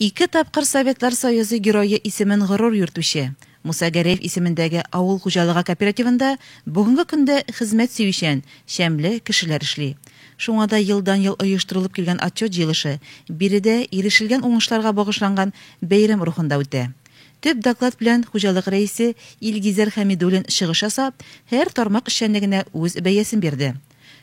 Ике тапкыр Советлар Союзы Герое исемен горур йөртүче, Муса Гәрәев исемендәге авыл хуҗалыгы кооперативында бүгенге көндә хезмәт сөючән, шәмле кешеләр эшли. Шуңа да елдан-ел оештырылып килгән отчет җыелышы биредә ирешелгән уңышларга багышланган бәйрәм рухында үтә. Төп доклад белән хуҗалык рәисе Илгизәр Хәмидуллин чыгыш ясап, һәр тармак эшчәнлегенә үз бәясен бирде.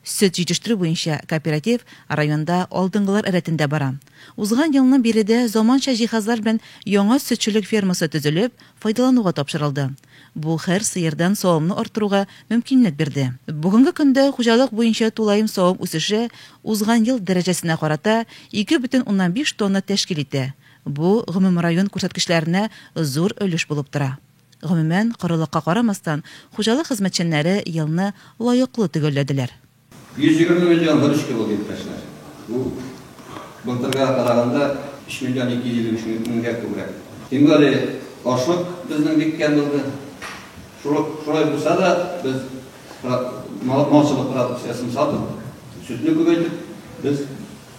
Сөт җитештерү буенча кооператив районда алдынгылар рәтендә бара. Узган елның биредә заманча җиһазлар белән яңа сөтчелек фермасы төзелеп, файдалануга тапшырылды. Бу һәр сыердан савымны арттыруга мөмкинлек бирде. Бүгенге көндә хуҗалык буенча тулаем савым үсеше узган ел дәрәҗәсенә карата ике бөтен уннан биш тонна тәшкил итә, бу гомумрайон күрсәткечләренә зур өлеш булып тора. Гомумән, корылыкка карамастан, хуҗалык хезмәтчәннәре елны лаеклы төгәлләделәр. 120 миллион выручка булды, иптәшләр. Бу былтыргыга караганда 3 миллион 253 меңгә күбрәк. Тимгали ашлык безнең бик кәм булды. Шулай булса да, без малчылык продукциясен сатып, сөтне күбәйтеп, без.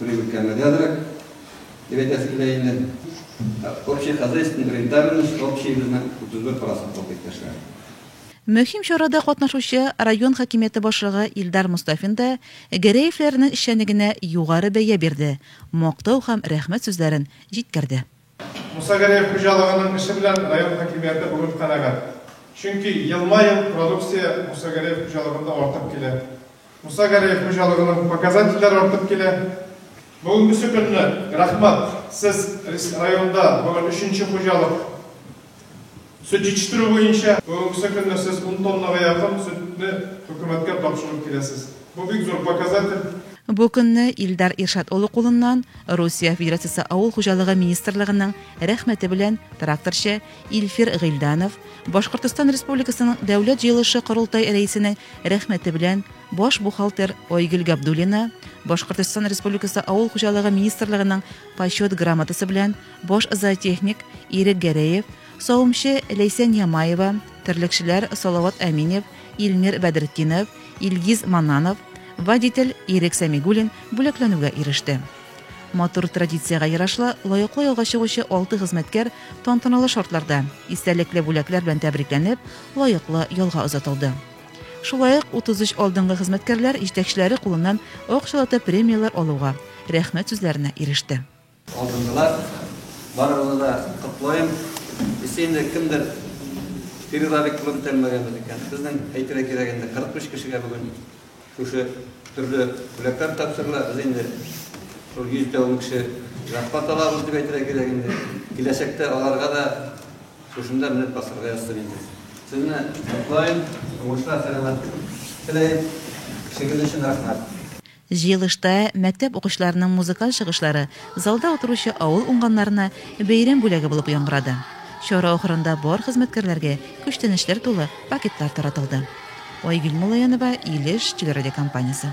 Рынканы да азрак дип әйтәсе килә инде. Общий хозяйственный рентабельность общийыбызны 31 процент алды, иптәшләр. Мөһим чарада катнашучы район хакимияте башлыгы Илдар Мостафин да Гәрәевләрнең эшчәнлегенә югары бәя бирде, мактау һәм рәхмәт сүзләрен җиткерде. Мусагариев хуҗалыгының эше белән район хакимияте бүген канәгать. Чөнки елма-ел продукция Мусагариев хуҗалыгында артып килә. Мусагариев хуҗалыгының показательләре артып килә. Бүгенгесе көнне, рәхмәт, сез районда бүген өченче хуҗалык. Сөт җитештерү буенча бүгенгесе көнне сез ун тоннага якын сөтне хөкүмәткә тапшырып киләсез. Бу бик зур показатель. Бу көнне Илдар Иршат улы кулыннан Русия Федерациясе Авыл хуҗалыгы министрлыгының рәхмәте белән тракторчы Илфир Гыйльданов, Башкортостан Республикасының Дәүләт җыелышы-Корылтай рәисенең рәхмәте белән баш бухгалтер Айгөл Габдуллина, Башкортостан Республикасы Авыл хуҗалыгы министрлыгының Почет грамотасы белән Баш зоотехник Ирек Гәрәев, савымчы Ләйсән Ямаева, терлекчеләр Салават Әминев, Илмир Бәдретдинов, Илгиз Мананов, водитель Ирек Сәмигуллин бүләкләнүгә иреште. Матур традициягә ярашлы, лаеклы ялга чыгучы алты хезмәткәр тантаналы шартларда, истәлекле бүләкләр белән тәбрикләнеп, лаеклы ялга озатылды. Шулай ук 33 алдынгы хезмәткәрләр җитәкчеләре кулыннан акчалата премияләр алуга, рәхмәт сүзләренә иреште. Алдынгылар, барыгызны да котлыйм. Эссе инде кемдер перерабик кылын тәмләгәнбез икән. Безнең әйтергә кирәк инде 45 кешегә бүген шушы төрле бүләкләр тапшырыла. Без инде шул 100 дә ун кеше зарплата алабыз дип әйтергә кирәк инде. Киләчәктә аларга да шушында менеп басарга язсын инде. Сезне котлыйм, уңышлар, сәламәтлек теләйм. Эшегез өчен рәхмәт. Җыелышта мәктәп укучыларының музыкаль чыгышлары залда утыручы авыл уңганнарына бәйрәм бүләге булып яңгырады. Чара ахырында бар хезмәткәрләргә күчтәнәчләр тулы пакетлар таратылды. Айгөл Муллаянова, Илеш телерадиокомпаниясе.